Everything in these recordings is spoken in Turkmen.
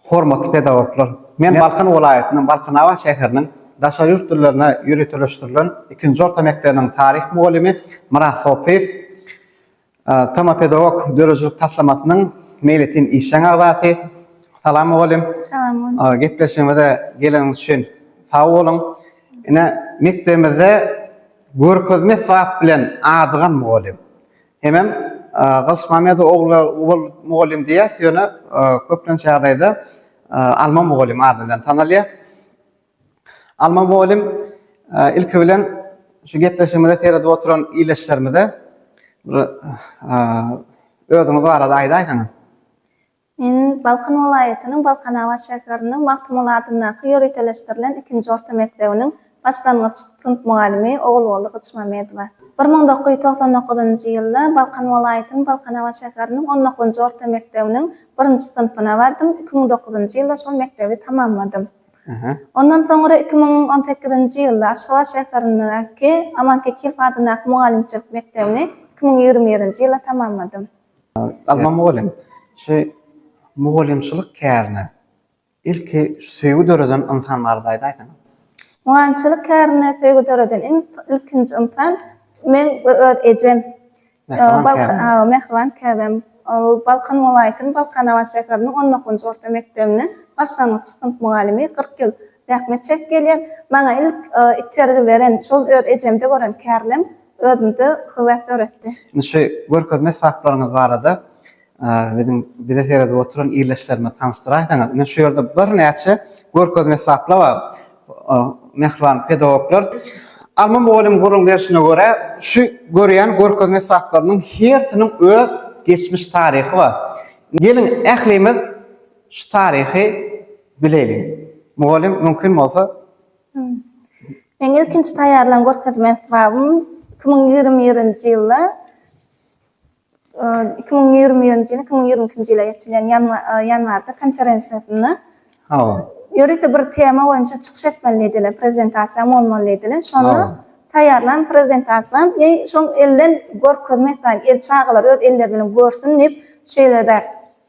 Hormatly pedagoglar! Men Balkan welaýatynyň Balkanabat şäheriniň daşary ýurt dillerine ýöriteleşdirilen ikinji orta mekdebiniň taryh mugallymy Myrat Sopyýew, Tama pedagog döredijilik taslamasynyň meýletin işjeň agzasy. Salam mugallym! Salam mugallym! Gepleşigimize geleniňiz üçin sag boluň! Ine, mekdebimizde görkezme sypap bilen adygan mugallym. Hemem Gylyçmämmedow ogly Uwal mugallym diýýäs, ýöne köplenç ýagdaýda Alma mugallym ady bilen tanalýar. Alma mugallym ilki bilen şu gepleşigimize seredip oturan ildeşlerimize bir özüňiz barada aýdaýsaňyz. Men Balkan welaýatynyň Balkanabat şäheriniň Magtymguly adyndaky ýöriteleşdirilen ikinji orta mekdebiniň başlangyç synp mugallymy Ogulguly Gyçmamedowa. Bir müň dokuz ýüz togsan dokuzynjy ýylda Balkan welaýatynyň Balkanabat şäheriniň on dokuzynjy orta mekdebiniň birinji synpyna bardym, iki müň dokuzynjy ýylda şol mekdebi tamamladym. Ondan soňra iki müň on sekizinji ýylda Aşgabat şäherindäki Aman Kekilow adyndaky mugallymçylyk mekdebini iki müň ýigrimi birinji ýylda tamamladym. Alma mugallym, şu mugallymçylyk kärine ilki söýgi döreden ynsan barada aýdaýsaň? Mugallymçylyk kärine söýgi döreden iň ilkinji ynsan men we öz ejem. Mähriban käbäm. Ol Balkan welaýatynyň Balkanabat şäheriniň on dokuzynjy orta mekdebiniň başlangyç synp mugallymy kyrk ýyl zähmet çekip gelýär. Maňa ilk itergi beren, şol öz ejemde gören kärlem özümde höwes döretdi. Indi şu görkezme esaplaryňyz barada biziň bize seredip oturan ildeşlerimize tanyşdyraýsaňyz. Ine şu ýerde birnäçe görkezme esaplar bar. Mähriban pedagoglar, Alma mugallym gürrüň berşine görä, şu görýän görkezme esaplarynyň hersiniň öz geçmiş taryhy bar. Geliň, ählimiz şu taryhy bileýliň. Mugallym, mümkin bolsa, Meň ilkinji taýýarlan görkezme esbabym iki müň ýigrimi birinji ýylda, iki müň ýigrimi birinji ýylyň iki müň ýigrimi ikinji ýyla geçilýän ýanwarda konferensiýasynda Hawa. Ýörite bir tema boýunça çykyş etmeli diýdiler, prezentasiýaň bolmaly diýdiler. Şonda taýýarlan prezentasiýam, eý, şoň elden görkezme esasy, el çagalar öz elleri bilen görsün diýip, şeýleräk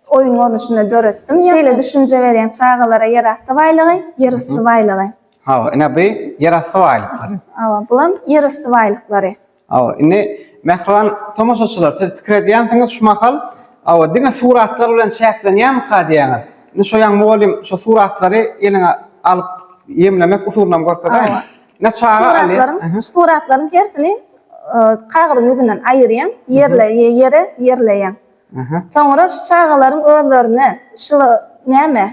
Oýun görnüşinde döretdim. Şeýle düşünje berýän çagalara ýerasty baýlygy, ýerüsti baýlygy. Hawa, ine bu ýerasty baýlyklary. Hawa, bulam ýerüsti baýlyklary. Hawa, indi mähriban tomaşaçylar, siz pikir edýänsiňiz şu mahal, hawa, diňe suratlar bilen çäklenýärmika diýýäňiz. Indi şu ýan mugallym şu suratlary eliňe alyp ýemlemek usulynam görkezäýin. Ine çaga alýar. Suratlaryň hersini kagyzyň ýüzünden aýyrýaň, ýerle ýere ýerleýäň. Soňra şu çagalaryň özlerine şyla näme,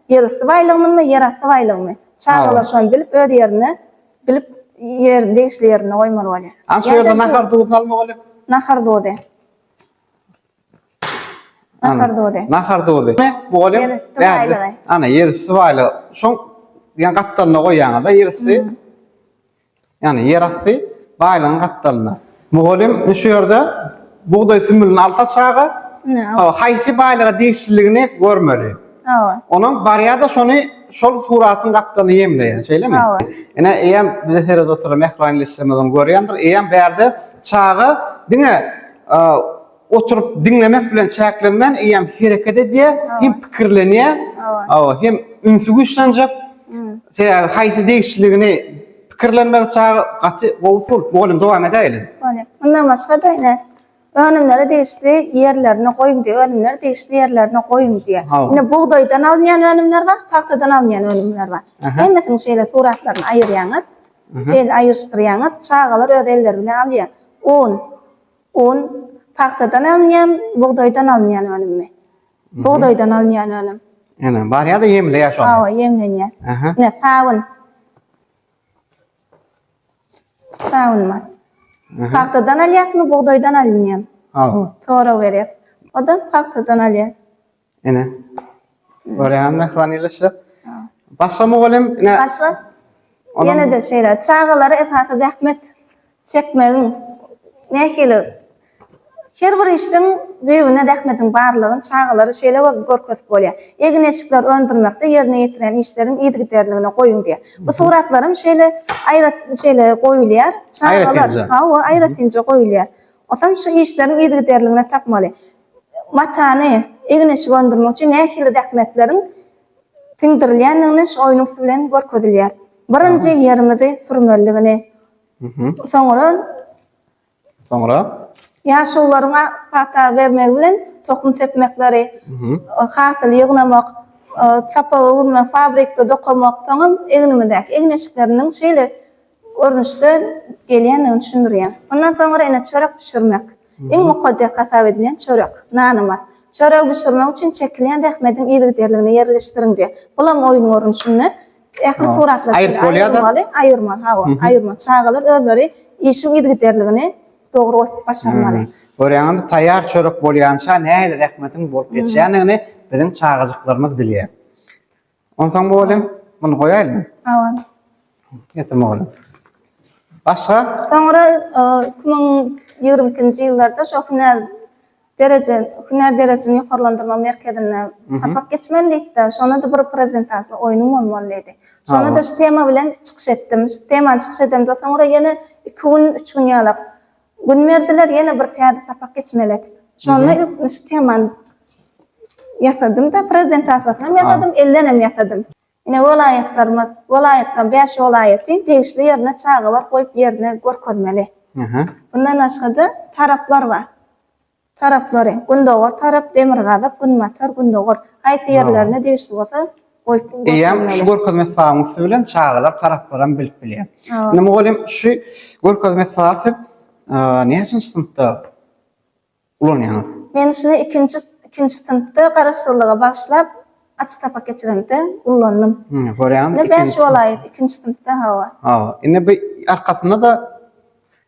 ýerüsti baýlygymyzmy, ýerasty baýlygymy? Çagalar şony bilip, öz ýerine bilip, ýer degişli ýerinde goýmaly bolýar. Aň şu ýerde nahar duzy salmaly bolýar. Nahar duzy. Nahar duzy. Nahar duzy. Bu bolýar. Ýerüsti baýlygy. Ana, ýerüsti baýlygy. Şoň ýa gapdalyna goýýaňyz-da ýerüsti. Ýagny ýerasty baýlygyň gapdalynda. Mugallym şu ýerde bugdaý sümülini alsa çaga, haýsy baýlyga degişliligini görmeli. Onuň barýar-da şony şol suratyň gapdalyny ýemleýär. Şeýlemi? Ine, eýýäm bize seredip oturan mähriban ildeşlerimiz ony görýändir. Eýýäm bärde çaga diňe oturyp diňlemek bilen çäklenmän eýýäm hereket edýär, hem pikirlenýär, hawa, hem ünsi güýçlenjek. Sebäbi haýsy degişliligini pikirlenmeli çaga gaty gowy usul. Mugallym dowam edäýeli. Bolýar. Mundan başga-da ine önümleri degişli ýerlerine goýuň diýip, önümleri degişli ýerlerine goýuň diýýär. Hawa. Ine bugdaýdan alynýan önümler bar, pagtadan alynýan önümler bar. Hemmesiniň şeýle suratlaryny aýyrýaňyz, şeýle aýyryşdyrýaňyz, çagalar öz elleri bilen alýar. Un. Un, pagtadan alynýan, bugdaýdan alynýan önümmi? Bugdaýdan alynýan önüm. Ene, barýar-da ýemleýär şony. Hawa, ýemlenýär. Aha. Ine, sabyn. Sabyn bar. Pagtadan alýarmy, bugdaýdan alynýan? Hawa. Sorag berýär. O-da pagtadan alýar. Ene. Görýän mähriban ýylyşyk. Başga mugallym ine. Başga. Ýene-de şeýle çagalara esasy zähmet çekmegiň nähili her bir işiň düýbünde zähmetiň barlygyny çagalara şeýle görkezip bolýar. Egin-eşikleri öndürmekde ýerine ýetiren işleriň yzygiderligine goýuň diýýär. Bu suratlar hem şeýle aýrat şeýle goýulýar. Çagalar hawa aýratynja goýulýar. Otam şu işleriň yzygiderligini tapmaly. matany, egin-eşik öndürmek üçin nähili zähmetleriň siňdirilýändigini şu oýun üsti bilen görkezilýär. Birinji ýerimizi sürmelidigini, soňra. Soňra? Ýaşulylaryň pata bermegi bilen tohum sepmekleri, hasyly ýygnamak, sapaga öwürmek, fabrikde dokamak, soňam egnimizdäki egin-eşikleriniň şeýle görnüşde gelýändigini düşündirýär. Mundan soňra ene çörek bişirmek, iň mukaddes hasap edilýän çörek, nanymyz. Çöregi bişirmek üçin çekilýän zähmediň yzygiderligini ýerleşdiriň diýýär. Bulam oýun görnüşinde ähli suratlar şeýle aýrylmaly, aýyrmaly, hawa, aýyrmaly. Çagalar özleri işiň yzygiderligini dogry goýup başarmaly. Görýäňizmi, taýýar çörek bolýança nähili zähmetiň bolup geçýändigini biziň çagajyklarymyz bilýär. Onsoň bolýa. Muny goýaýlymy? Hawa. Getir mugallym. Başga? Soňra 2022-nji ýyllarda şo hünär dereje, hünär derejesini ýokarlandyrma merkezinde sapak geçmelidigde, şonda-da bir prezentasiýa oýnum bolmaly diýdi. Şonda-da şu tema bilen çykyş etdim. Şu temany çykyş edemde soňra ýene iki gün, üç gün ýalak Gün berdiler ýene bir täze sapak geçmeli edip. Şonda ilkinji şemany ýasadym-da, prezentasiýasynam ýasadym, ellenem ýasadym. Ine, welaýatlarymyz, welaýatlaryň bäş welaýaty degişli ýerine çagalar goýup ýerine görkezmeli. Mundan başga-da, taraplar bar. Taraplary, Gündogar tarap, Demirgazyk, Günbatar, Gündogar, haýsy ýerlerine degişli bolsa, goýup görkezmeli. Eýýäm şu görkezme sabyň üsti bilen çagalar taraplaram bilip bilýär. Indi mugallym şu görkezme saby siz näçenji synpda ulanýaňyz? Men şuny ikinji ikinji synpda garaşsyzlyga bagyşlap açyk sapak geçiremde ullandym. Görýäňizmi? Indi bäş bolaýyp ikinji synpda hawa. Hawa. Indi bu arkasynda-da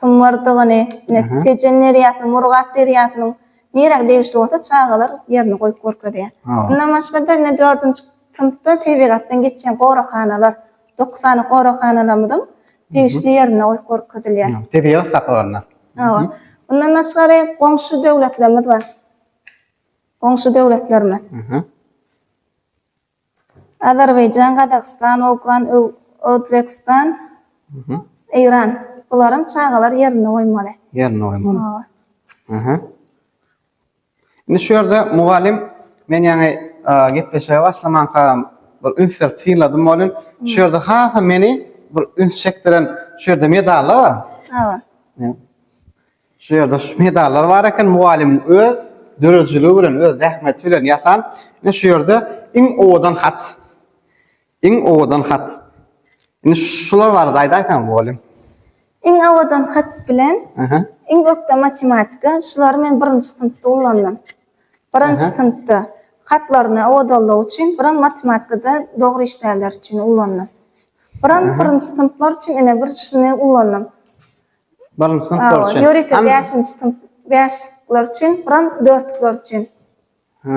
symyrdygyny, ine, Tejen derýasynyň, Murgap derýasynyň nirä degişli bolsa çagalar ýerini goýup görkezýär. Mundan başga-da, ine, dördünji synpda tebigatdan geçýän goraghanalar, dokuz sany goraghanalarymyzyň degişli ýerinde goýup görkezilýär. Tebigat saklaganda. Hawa. Mundan daşgary, goňşy döwletlerimiz bar. Goňşy döwletlerimiz. Azerbaýjan, Gazagystan, Owgan, Özbegistan, Eýran. Bularyň çagalar ýerini goýmaly. Ýerini goýmaly. Hawa. Aha. Indi şu ýerde mugallym men ýaňy gepleşige başlamanka bir üns berip synladym bolin. Şu ýerde hasa meni bir üns çekdiren şu ýerde medallar bar. Hawa. Şu ýerde şu medallar bar eken, mugallymyň öz döredijiligi bilen, öz zähmeti bilen ýasan. Ine şu ýerde iň owadan hat. Iň owadan hat. Indi şular barada aýdaýsaň mugallym. Iň owadan hat bilen Aha. iň ökde matematika. Şulary men birinji synpda ullandym. Birinji Aha. synpda hatlaryny owadanlygy üçin, biram matematikada dogry işleýänler üçin ullandym. Biram Aha. birinji synplar üçin ine bir şuny ullandym. Birinji synplar Awa, üçin. ýörite An- bäşinji synp, bäşlikler üçin, buram dörtlükler üçin. Ha.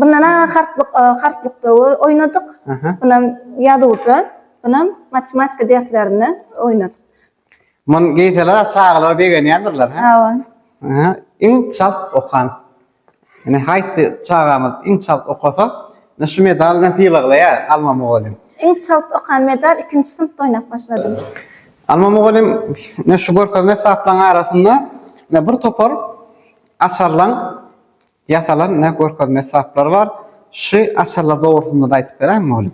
Bundan aňa harplyk, e, harplykda o- oýnadyk. Aha. Bunam ýazuwda, bunam matematika derslerinde oýnadyk. Muny geýseler çagalar begenýändirler, hä? Awa. Aha. Iň çalt okan. Ine haýsy çagamyz iň çalt okasa, ine şu medal bilen sylaglaýar Alma mugallym. Iň çalt okan medal ikinji synpda oýnap başladym. Alma mugallym ine şu görkezme esbaplaryň arasynda ine bir topar açarlaň ýasalan ine görkezme esbaplary bar. Şu açarlar dogrusynda-da aýdyp beräými mugallym?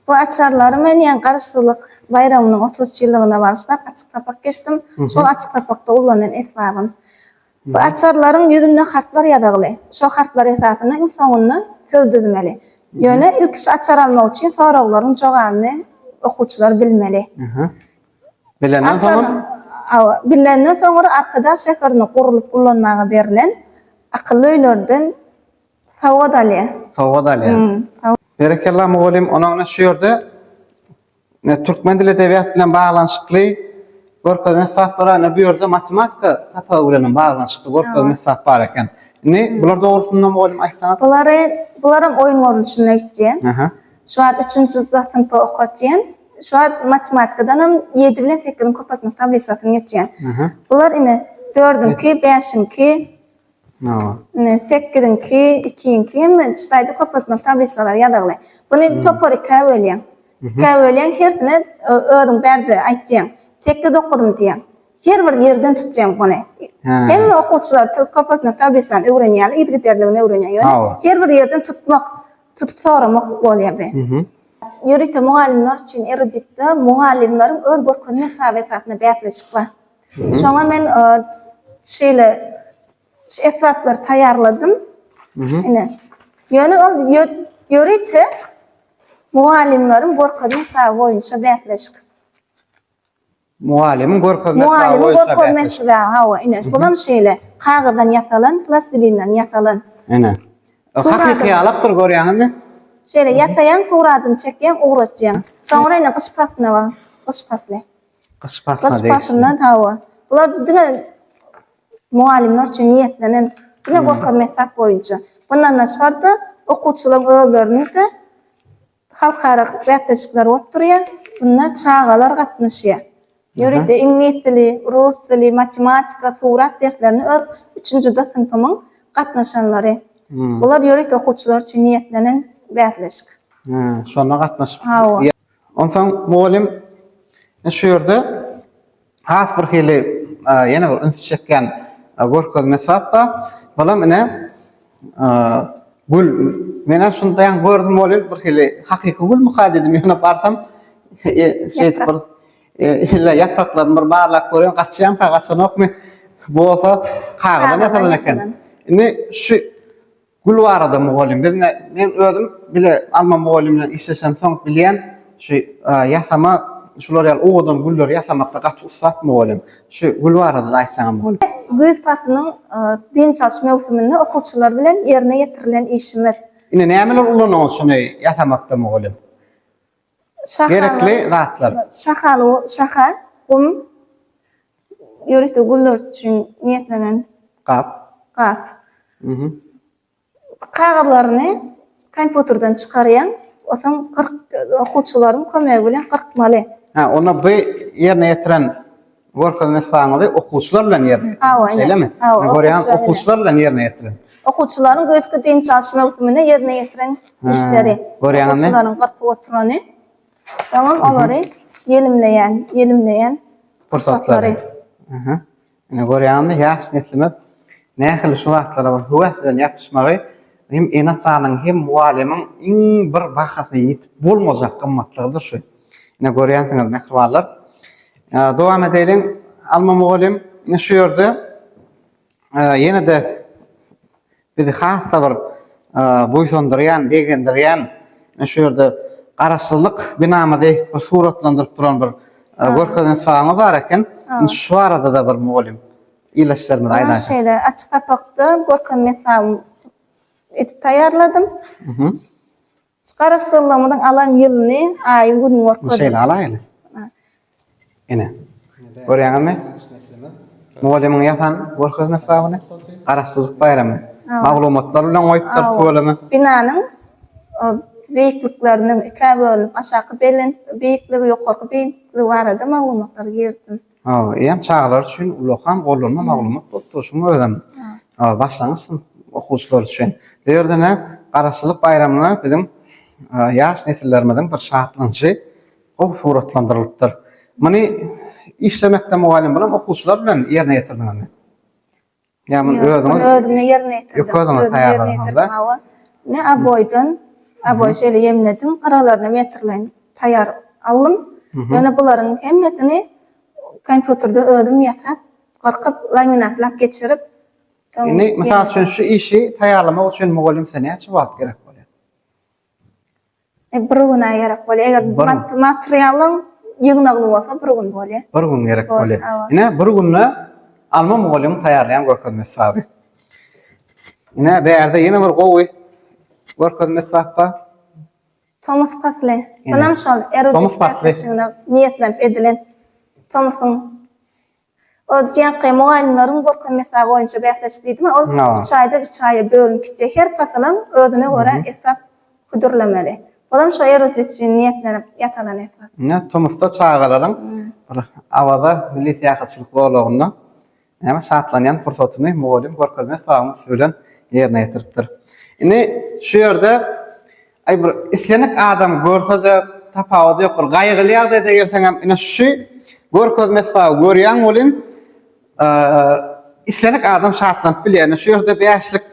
Bu açarlary men ýa Garaşsyzlyk baýramynyň otuz üç ýyllygyna bagyşlap açyk sapak geçdim. Şol açyk sapakda ullanan esbabym. Bu açarlaryň ýüzünde harplar ýazygly. Şo harplar esasynda iň soňunda söz düzmeli. Ýöne ilki şu açar almak üçin soraglaryň jogabyny okuwçylar bilmeli. Bilenden soňam? Hawa, bilenden soňra Arkadag şäherinde gurlup ullanmaga berlen akylly öýlerden sowgat alýar. Sowgat alýar. Berekella mugallym, onuňa şu ýerde Türkmen dili edebiýat bilen baglanyşykly görkezme esbaplar bar. Ine bu ýerde matematika sapagy bilen hem baglanyşykly görkezme esbap bar eken. Indi bular dogrusynda mugallym aýtsaňyz. Bulary, bularam oýun görnüşinde öýtýän. Şu wagt üçünji D synpy okatýan. Şu wagt matematikadan hem ýedi bilen sekiziň köpeltme tablisasyny geçýän. Bular ine dördünki, bäşinki, Ine, sekiziňki, ikiňki hem ştaýda köpeltmeli tablisalary ýazagly. Buny topar ikä bölýäň. Ikä bölýäň, hersine özüň bärde aýtýaň. Sekiz, dokuzmy diýýäň. Her bir ýerden tutýaň buny. Hemme okuwçylar köpeltmeli tablisany öwrenýärler, yzygiderligini öwrenýär. Ýöne her bir ýerden tutmak, tutup soramak bolýar bi. Ýörite mugallymlar üçin eruditde mugallymlaryň öz görkezme hasaby esasynda bäsleşik bar. Şoňa men şeýle şu esbaplary taýýarladym. Ine. Ýöne ol ýörite mugallymlaryň görkezme esaby boýunça bäsleşik. Mugallymyň görkezme esaby boýunça. Mugallymyň görkezme esaby, hawa, ine. Bu hem şeýle, kagyzdan ýasalan, plastilinden ýasalan. Ine. Hakyky ýalapdyr görýäňizmi? Şeýle ýasaýaň, suratyny çekýäň, ugratýaň. Soňra ine gyş paslyna bagyň. Gyş pasly. Gyş paslyna Gyş degişli. paslyna hawa. Bular diňe mugallymlar üçin niýetlenen diňe Hmm. görkezme esas boýunça. Mundan daşgary-da okuwçylaryň özleriniň-de halkara bäsleşikleri bolup durýar. Bunda çagalar gatnaşýar. Ýörite iňlis dili, rus dili, matematika, surat derslerini öz üçünji D synpymyň gatnaşanlary. Hmm. Bular ýörite okuwçylar üçin niýetlenen bäsleşik. Hmm. Şona gatnaşyp Hawa. Onsoň mugallym şu ýerde has bir hili ýene bir üns çekýän görkezme sapda, balam ine gül. Menem şuny daýan gördüm welin bir hili hakyky gülmüka diýdim. Ýöne barsam şeýdip bir ýa ýapraklaryny bir barlap görýän gaçýanka gaçanokmy bolsa kagyzdan ýasalan eken. Indi şu Gül barada mugallym, biz ine, men özüm bile alma mugallym bilen işleşemsoň bilýän, şu ýasama, şular ýaly owadan gülleri ýasamakda gaty ussat mugallym. Şu gül barada-da aýtsaňam bolýar. Güýz paslynyň dynç alyş möwsüminde okuwçylar bilen ýerine ýetirilen işimiz. Ine, nämeler ulanyňyz şuny ýasamakda mugallym? gerekli zatlar. Şahal, şahal, gum, ýörite güller üçin niýetlenen gap. Gap. Kagyzlaryny kompýuterden çykarýaň, onsoň okuwçylaryň kömegi bilen gyrkmaly. Hä, onda bu ýerine ýetiren Görkezme-sypagyňyzy okuwçylar bilen ýerine ýetiriň. Hawa, ine. Şeýlemi? Hawa, Men görýän, okuwçylar bilen. okuwçylar bilen ýerine ýetiriň. Okuwçylaryň güýzki dynç alyş möwsüminde ýerine ýetiriň işleri. görýäňizmi? Okuwçylaryň gyrkyp oturany, soňam olary ýelimleýän, ýelimleýän pursatlary. Pursatlary. Aha. Ine, görýäňizmi, ýaş neslimiz nähili şu zatlara bir höwes bilen ýapyşmagy hem ene-atanyň, hem mugallymyň iň bir bahasy, ýitip bolmajak gymmatlygydyr şu. Ine görýänsiňiz mähribanlar. Dowam edeýin. Alma mugallym ine şu ýerde ýene-de bizi has-da bir buýsandyrýan, begendirýän ine şu ýerde Garaşsyzlyk binamyzy bir suratlandyryp duran bir görkezen saňy bar eken. Indi şu barada-da bir mugallym ildeşlerimize aýdaýsaň. Şeýle açyk sapakda görkezme saňy edip taýýarladym. Şu Garaşsyzlygymyzyň alan ýylyny, aýyň günüň görkezdi. Muny şeýle alaýyn. Ine. Görýäňizmi? Mugallymyň ýasan görkezmesi bar muny. Garaşsyzlyk baýramy. Maglumatlar bilen goýupdyr tüweleme. Binanyň beýiklikleriniň ikä bölünip, aşaky belent beýikligi, ýokarky beýikligi barada maglumatlary girizdim. Eýýäm çagalar üçin ulakam gollanma maglumat bolup dur. Şunuň özem başlangyç synp okuwçylary üçin. Bu ýerde ine Garaşsyzlyk baýramyna biziň ýaş nesillerimiziň bir şatlanyşy gowy suratlandyrylypdyr. Muny işlemekde mugallym bilen okuwçylar bilen ýerine ýetirdiňizmi? Ýa muny özüňiz özüme ýerine ýetirdim. Ýok özüňiz taýýarladyňyzda. Ne aboýdan, aboý şeýle ýemledim, gyralaryna metrleýin taýýar aldym. Ýöne bularyň hemmesini kompýuterde özüm ýasap, gyrkyp, laminatlap geçirip. Indi mysal üçin şu işi taýýarlamak üçin mugallym size näçe wagt gerek bolýar? E, bir güne gerek bolýar. Eger Bir gün. mat- materialyň ýygnagly bolsa bir gün bolýar. Bir gün gerek Bol- bolýar. awa. Ine, bir günde Alma mugallymyň taýýarlaýan görkezme esbaby. Ine, bärde ýene bir gowy görkezme esbap bar. Tomus pasly. Ine. Munam şol erudit Tomus pasly. bäsleşigine niýetlenip edilen tomusyň Öňki mugallymlaryň görkezme-hesap boýunça bäsleşik diýdimi, ol üç aýdan üç aýa bölünip gitjek. Her pasylam özüne görä esap hödürlemeli. Olam şo eruzýa üçin niýetlenip ýasalan esap. Ine, tomusda çagalaryň bir Awaza milli syýahatçylyk zolagynda näme şatlanýan pursatyny mugallym görkezme-hesabymyz bilen ýerine ýetiripdir. Indi şu ýerde Aý bir islenik adam görsede tapawudy ýok bir gaýgyly ýagdaýda gelseňem ine şu görkezme esbaby görýäň welin islenik adam şatlanyp bilýär ine şu ýerde bäşlik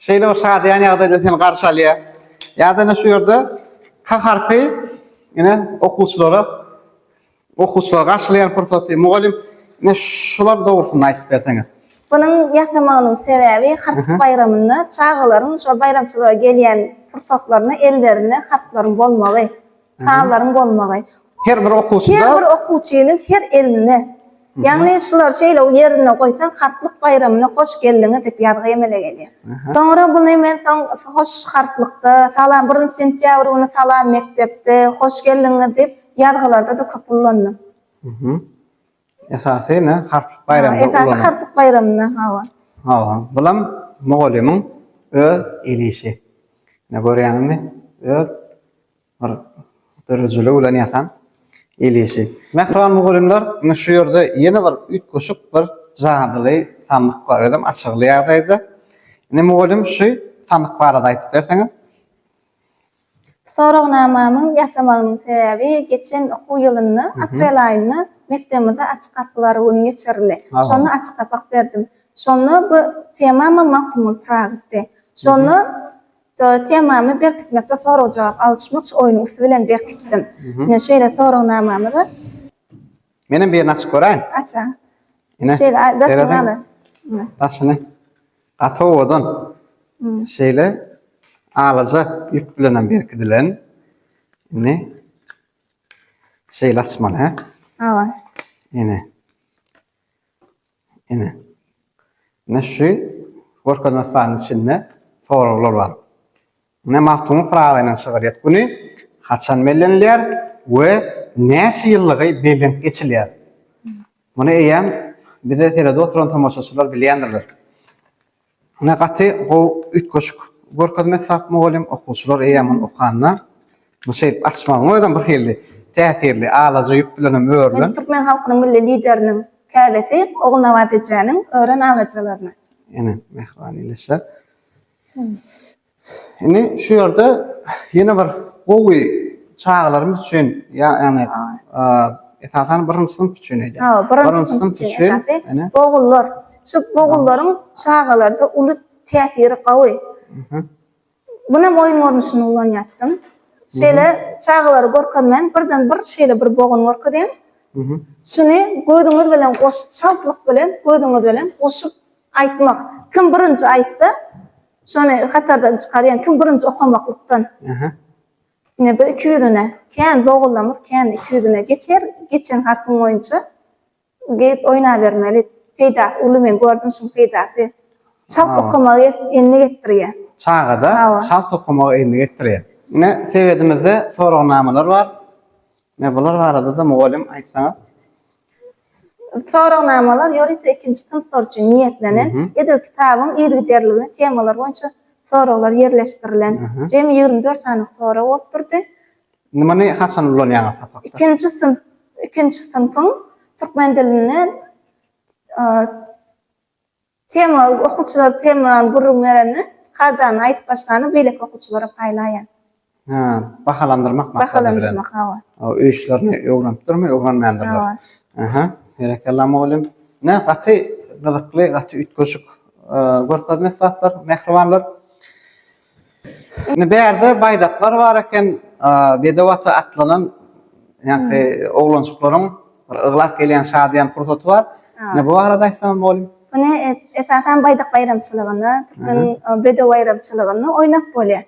şeýle bir şadyýan ýagdaýda seni garşy alýar ýa-da ine şu ýerde H harpy ine okuwçylara Okuwçylar garşylaýan pursaty mugallym ine şular dogrusynda aýdyp berseňiz. Bunuň ýasamagynyň sebäbi harp baýramynda çagalaryň şo baýramçylyga gelýän pursatlarynda ellerinde harplaryň bolmagy, sazlaryň bolmagy. Her bir okuwçyda. Her bir okuwçynyň her elinde. Ýagny şulary şeýle ýerinde goýsaň harplyk baýramyna hoş geldiňiz diýip ýazgy emele gelýär. Soňra buny men soň hoş harplykda, salam birinji sentýabr güni salam mekdepde, hoş geldiňiz diýip, ýazgylarda-da köp ullanyp. Mhm. Esasy ne, harplyk baýramda ullanyp. Esasy harplyk baýramda, hawa. Hawa. Bulam mugallymyň öz el işi. Ne görýäňmi? Öz bir dörejiligi bilen ýasan el işi. Mähriban mugallymlar, indi şu ýerde ýene bir üýtgeşik bir jadyly sandyk bar. Özem açygy ýagdaýda. Indi mugallym şu sandyk barada aýdyp berseňiz. Soragnamamyň ýasamagynyň sebäbi geçen okuw ýylynda aprel aýynda mekdebimizde Açyk gapylar güni geçirildi. Şonda açyk sapak berdim. Şonda bu temamam Magtymguly Pyragytdy. Şonda temamy berkitmekde sorag-jogap alyşmak şu oýnuň üsti bilen berkitdim. Ine şeýle soragnamamyzy. Menem birini açyp göräýin. Aç-a. Ine. Şeýle a- daşyny seredin. al. Ine. Daşyny. Gaty owadan. Hmm. Şeýle alaja ýüp bilen hem berkidilen. Indi şeýle açmaly, hä? Awa. Ine. Ine. Ine şu görkezme stanyň içinde soraglar bar. Mundan Magtymguly Pyragynyň şygryýet güni haçan bellenilýär we näçe ýyllygy bellenip geçilýär? Muny eýýäm bizi seredip oturan tomaşaçylar bilýändirler. Ine, gaty gowy üýtgeşik görkezme Sap mugallym, okuwçylar eýýäm muny okanda, muny şeýdip açmagyň özem bir hili täsirli, alaja ýüp bilenem örülen. Türkmen halkynyň Milli Lideriniň käbesi Ogulnabat ejäniň ören alajalaryna. Ene, mähriban ildeşler. Indi şu ýerde ýene bir gowy çagalarymyz üçin, ýagny esasan birinji synp üçin eýdýän. Ha, birinji synp üçin. Ogullar. Şu ogullaryň çagalarda uly täsiri gowy. Muny oýun görnüşinde ulanýardyň. Şeýle çagalary görkezmän, birden bir şeýle bir bogun görkezýän. Şuny gözüňiz bilen goşup, çaltlyk bilen gözüňiz bilen goşup Aýtmak. Kim birinji aýtsa, şony hatardan çykar, ýagny kim birinji okamaklykdan. Aha. Ine bu iki ýüzüne, kän bogullamyz, kän iki ýüzüne geçer, geçen harpyň boýunça gyz oýnabermeli. Peýdasy uly men gördüm şuň peýdasy. Çalt okamagy endik etdirýär. Çagada çalt okamagy endik etdirýär. Ine sebedimizde soragnamalar bar. Ine bular barada-da mugallym aýtsaňyz. Soragnamalar ýörite ikinji synplar üçin niýetlenen, edil kitabyň yzygiderligine temalar boýunça soraglar ýerleşdirilen. Jemi ýigrimi dört sany sorag bolup durdy. Indi muny haçan ulanýaňyz sapakda? Ikinji synp, ikinji synpyň türkmen dilinde Tema, okuwçylar tema gürrüň berende, kadany aýdyp başlanda beýleki okuwçylara paýlaýar. Hä, bahalandyrmak maksady bilen. Bahalandyrmak, hawa. Hawa, öý işlerini öwrenipdirmi, öwrenmändirler. Hawa. Aha, berekella mugallym. Ine, gaty gyzykly, gaty üýtgeşik görkezme esbaplar, mähribanlar. Indi bärde baýdaklar bar eken, bedew ata atlanan ýaňky oglanjyklaryň bir yglap gelýän şadyýan pursaty bar. Ine bu barada aýtsaňyz mugallym. Muny esasan baýdak baýramçylygynda, türkmeniň bedew baýramçylygynda oýnap bolýar.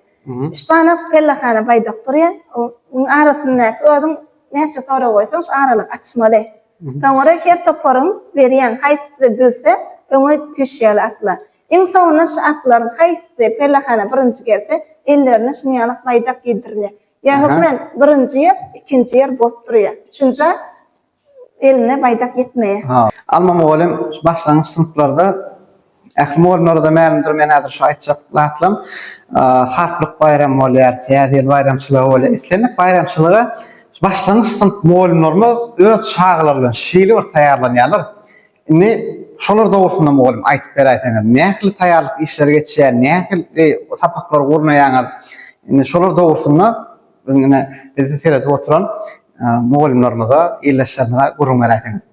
Üç sany pellehana baýdak durýar. Onuň arasyndaky özüň näçe sorag goýsaň şo aralygy açmaly. Soňra her toparyň berýän haýsysy bilse öňe tüýşýärler atlar. Iň soňunda şu atlaryň haýsysy pellehana birinji gelse, ellerine şunuň ýaly baýdak gidirilýär. Ýa hökmän birinji ýer, ikinji ýer bolup durýar. Üçünji at eline baýdak ýetmeýär. Alma mugallym şu başlangyç synplarda, ähli mugallymlara-da mälimdir, men häzir şu aýtjak zatlam, Harplyk baýramy bolýar, Täze ýyl baýramçylygy bolýar. Islendik baýramçylyga başlangyç synp mugallymlarymyz öz çagalary bilen şeýle bir taýýarlanýarlar, Indi şolar dogrusynda mugallym aýtyp beräýseňiz, nähili taýýarlyk işleri geçýär, nähili sapaklary gurnaýaňyz? Indi şolar dogrusynda biziň ine bizi seredip oturan mugallymlarymyza, ildeşlerimize gürrüň beräýseňiz.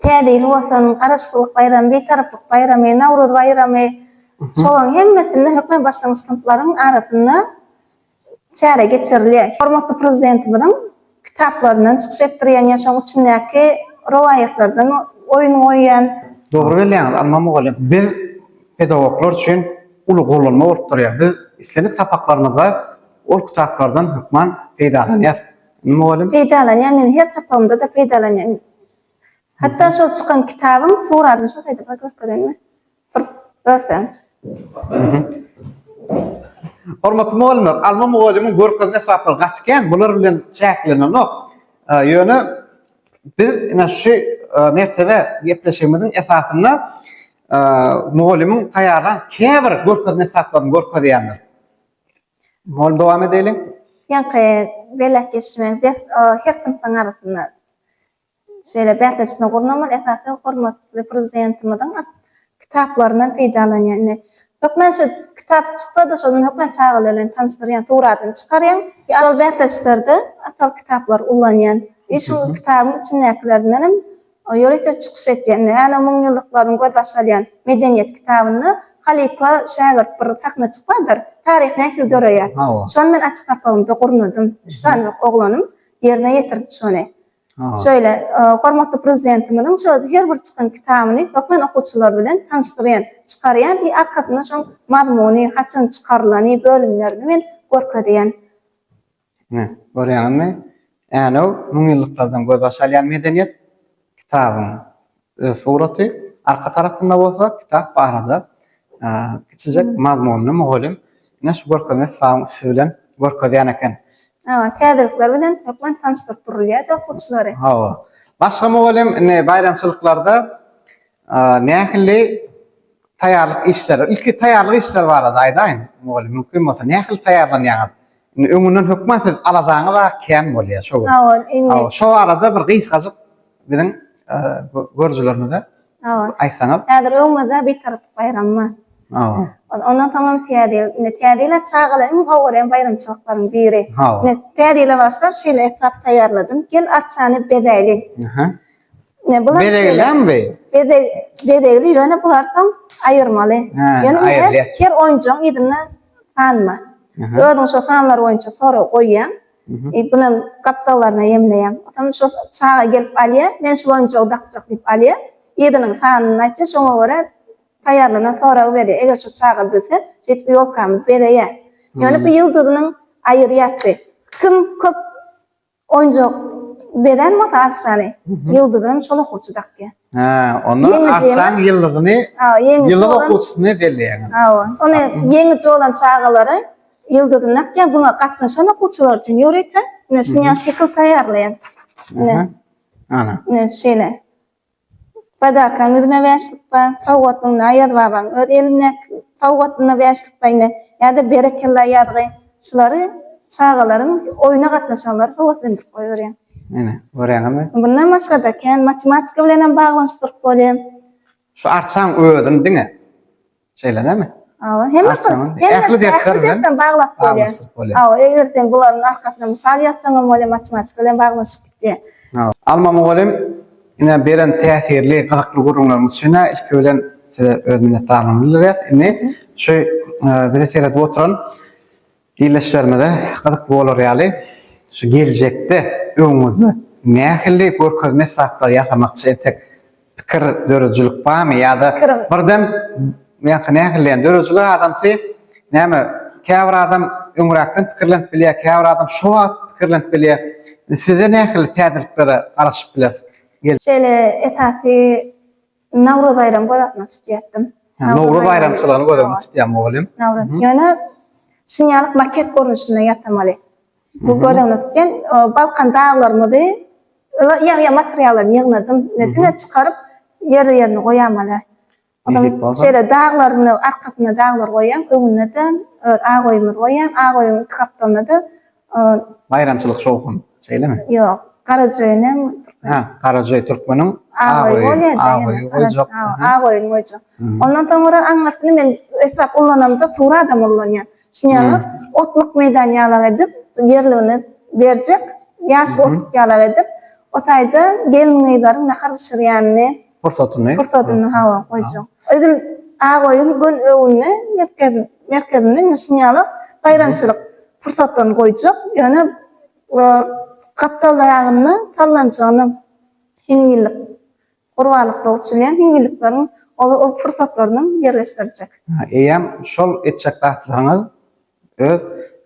Täze ýyl bolsun, Garaşsyzlyk baýramy, Bitaraplyk baýramy, Nowruz baýramy, şolaryň hemmesinde hökman başlangyç synplaryň arasynda Çäre geçirilýär. Hormatly Prezidentimiziň kitaplaryndan çykyş etdirýän ýa şoň içindäki rowaýatlardan oýun goýýan. Dogry belleýäňiz, Alma mugallym. Biz pedagoglar üçin uly gollanma bolup durýar. Biz islendik sapaklarymyzda ol kitaplardan hökman peýdalanýas. Indi mugallym. Peýdalanýan, men her sapagymda-da peýdalanýan. Hatda şol çykan kitabyň suratyny şol taýda bir görkezeýinmi? Görseň. Hormatly mugallymlar, Alma mugallymyň görkezen esbaplary gaty kän, bular bilen çäklenenok. Ýöne biz ine şu mertebe gepleşigimiziň esasynda mugallymyň taýýarlan käbir görkezen esbaplaryny görkezýändiris. Mugallym dowam edeliň. Ýaňky belläp geçişimiz her synpyň arasynda Şeýle bäsleşme gurnamak esasan hormatly Prezidentimiziň kitaplaryndan peýdalanýan. Indi hökmän şu kitap çyksa-da, şondan hökmän çagalar bilen tanyşdyrýan, suratyny çykarýan. Şol bäsleşiklerde atal kitaplary ullanýan. Ýa şu kitabyň içindäkilerinden hem ýörite çykyş etýän. Indi Änew müňýyllyklarynyň gözbaş alýan medeniýet kitabynda halypa, şägirt bir sahnaçyk bardyr. Taryh nähili döreýär? Şony men açyk sapagymda gurnadym. Üç sany oglanym ýerine ýetirdi şony. Şeýle, hormatly Prezidentimiziň şu her bir çykan kitabyny okan okuwçylar bilen tanyşdyrýan, çykarýan i arkasynda şoň mazmuny, haçan çykarylany, bölümlerini men görkezýän. Ine, görýäňizmi, Änew, müňýyllyklardan gözbaş alýan medeniýet, kitabyň öz suraty, arka tarapynda bolsa kitap barada kiçijek mazmunly mugallym ine şu görkezme sypagyň üsti bilen görkezýän eken. Hawa, täzelikler bilen hökman tanyşdyryp durulýar-da okuwçylary. Hawa. Başga mugallym indi baýramçylyklarda nähili taýýarlyk işleri, ilki taýýarlyk işleri barada aýdaýyň mugallym mümkin bolsa, nähili taýýarlanýaňyz? Indi öňünden hökman siz aladaňyz-a kän bolýar şo gün. Hawa, indi. Hawa, şo barada bir gysgajyk biziň görüjilerimize Hawa. aýtsaňyz. Häzir öňümizde Bitarap baýramy bar. Hawa. Ondan soň hem Täze ýyl. Indi Täze ýyla çagalar iň gowy görýän baýramçylyklaryň biri. Hawa. Indi Täze ýyla başlap şeýle esbap taýýarladym. Gel arçany bezäýliň. Aha. Ne bular? Bezegilem bi? Bezeg, bezegli ýöne bular soň aýyrmaly. Ýöne her, her oýunjygyň ýüzünde sanma. Özüň şo sanlar boýunça sorag goýýaň. E, bunam gapdallaryna ýemleýäň. Soň şo çaga gelip alýar, men şul oýunjygy dakjak diýip alýar. Ýüzüniň sanyny aýtýar, şoňa görä taýýarlanan soragy berýär. Eger şo çaga bilse, şeýdip ýolkamyz bezeýär. Ýöne bu ýyldyzynyň aýyrýar bi. Kim köp Oýunjak bezän bolsa arçany, ýyldyzy hem şol okuwçy dakýar. Hä, onda arçanyň ýyldyzyny, ýyldyz okuwçysyny belleýär. Hawa, ony ýeňiji bolan çagalary ýyldyzyny dakýar, buňa gatnaşan okuwçylar üçin ýörite ine şuny ýaly şekil taýýarlaýar. Ine, ine şeýle. Sadakaň ýüzüne bäşlik pa, sowgatyň Naýazbabaň öz elindäki sowgatyna bäşlik paýyna ýa-da berekella ýazgy, şulary çagalaryň, oýna gatnaşanlary höweslendirip goýberýär. Ine, görýäňizmi? Mundan başga-da, kän matematika bilenem baglanyşdyryp bolýar. Şu arçaň özüni diňe Şeýle näme? Hawa, hemme ähli dersler bilen baglap bolýar. Hawa, eger sen bularyň arkasyna mysal ýazsaňam bolýar, matematika bilen baglanyşyp gidýär. Hawa. Alma mugallym, ine beren täsirli, gyzykly gürrüňleriňiz üçin ilki bilen size öz minnetdarlygymyzy bildirýäs. Indi şu bizi seredip oturan Ildeşlerimize gyzykly bolar ýaly, şu geljekde öňüňizde nähili görkezme esbaplary ýasamakçy entek pikir döredijilik barmy ýa-da birden ýa-da nähili döredijilik adamsy näme käbir adam öňräkden pikirlenip bilýär käbir adam şo wagt pikirlenip bilýär size nähili täzeliklere garaşyp bileris. Şeýle esasy Nowruz baýramy göz astynda tutýardim. Nowruz baýramçylygyny göz öňünde tutýarmy oglum? Nowruz. Ýöne şinýalyk maket görnüşinde ýasamaly. Bu göz öňünde tutýan Balkan daglarymyzy ýa-ýa materiallaryny ýygnadym. Diňe çykaryp ýerli-ýerine goýamaly. Şeýle daglaryny, arkasynda daglar goýýan, öňünde-de öz agoýumyzy goýýan. Agoýuň iki gapdalynda-da Ol. Baýramçylyk şowhun. Şeýlemi? Ýok. Garajoýun hem türkmen. Hä, Garajoý türkmeniň Agoýy bolýar da. Agoýy goýjak. Agoýyny goýjak. Ondan soňra aňyrsyny men eslap ullanamda suradam ullanýan. Şuny alyp, otluk meýdan ýalak edip, ýerligini berjek, ýaşyl otluk ýalak edip, o taýda gelin-gyzlaryň nahar bişirýänini, Pursatyny. Pursatyny hawa goýjak. Edil Agoýuň göl öwünde merkez merkezinde indi şuny ýaly baýramçylyk pursatlaryny goýjak. Ýöne Gapdal daýagynda sallançagyna hiňňillik gurbanlykda uçulýan hiňňillikleriň o pursatlaryny ýerleşdirjek. Eýýäm şol etjek zatlaryňyz öz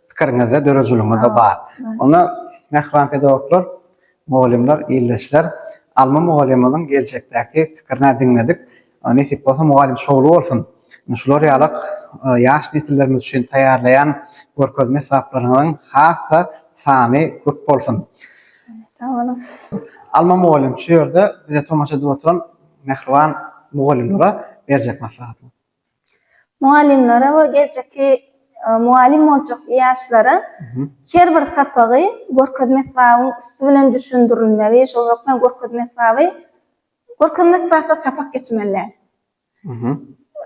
pikiriňizde döredijiligiňizde bar. Onda mähriban pedagoglar, mugallymlar, ildeşler, Alma mugallymymyzyň geljekdäki pikirini diňledik. Nesip bolsa mugallym şowly bolsun. Şular ýalyk ýaş nesillerimiz üçin taýýarlaýan görkezme esbaplaryňyzyň has-da sany köp bolsun. Sag boluň. Alma mugallym şu ýerde bize tomaşa edip oturan mähriban mugallymlara berjek maslahatyňyz. Mugallymlara we geljekki mugallym boljak ýaşlara her bir sapagy görkezme esbabyň üsti bilen düşündirilmegi, şol hökman görkezme esbaby görkezme esbapsyz sapak geçmeli däl.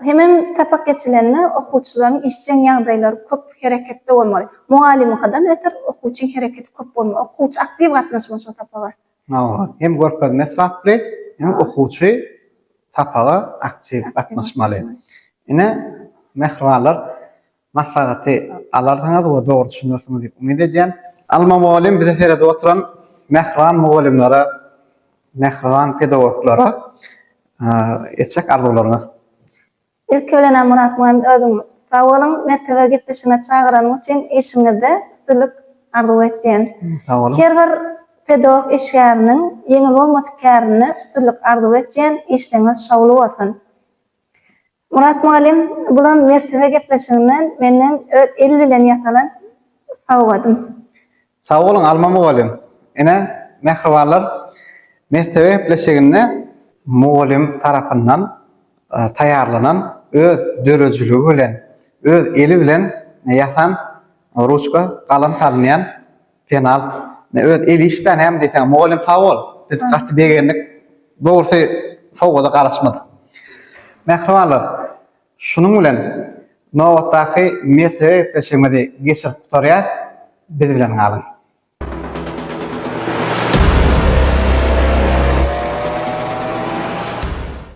Hemem sapak geçilende okuwçylaryň işjeň ýagdaýlary köp hereketde bolmaly. Mugallymyňkydan öter okuwçyň hereketi köp bolmaly. Okuwçy aktiw gatnaşmaly şol sapaga. Hawa, hem görkezme esbaply, hem okuwçy sapaga aktiw gatnaşmaly. Ine, mähribanlar, maslahaty alarsyňyz we dogry düşünersiňiz diýip umyt edýän. Alma mugallym bizi seredip oturan mähriban mugallymlara, mähriban pedagoglara etjek arzuwlaryňyz Ilki bilenam Murat mugallym özüňiz sag boluň mertebe gepleşigine çagyranyň üçin işiňizde üstünlik arzuw etýän. Sag boluň. Her bir pedagog işgäriniň ýeňil bolmadyk kärinde üstünlik arzuw etýän işleňiz şowly bolsun. Murat mugallym bulam mertebe gepleşiginden menden öz el bilen ýasalan sowgadym. Sag boluň Alma mugallym. Ine, mähribanlar, mertebe gepleşiginde mugallym tarapyndan taýýarlanan öz döredijiligi bilen, öz eli bilen ýasan ruçka, galam salynýan penal, öz el işdäni hem diýseň. Mugallym sag bol, biz gaty begendik. Dogrusy sowgada garaşmadyk. Mähribanlar. Şunuň bilen nobatdaky mertebe gepleşigimizi geçirip gutarýas, biz bilen galyň!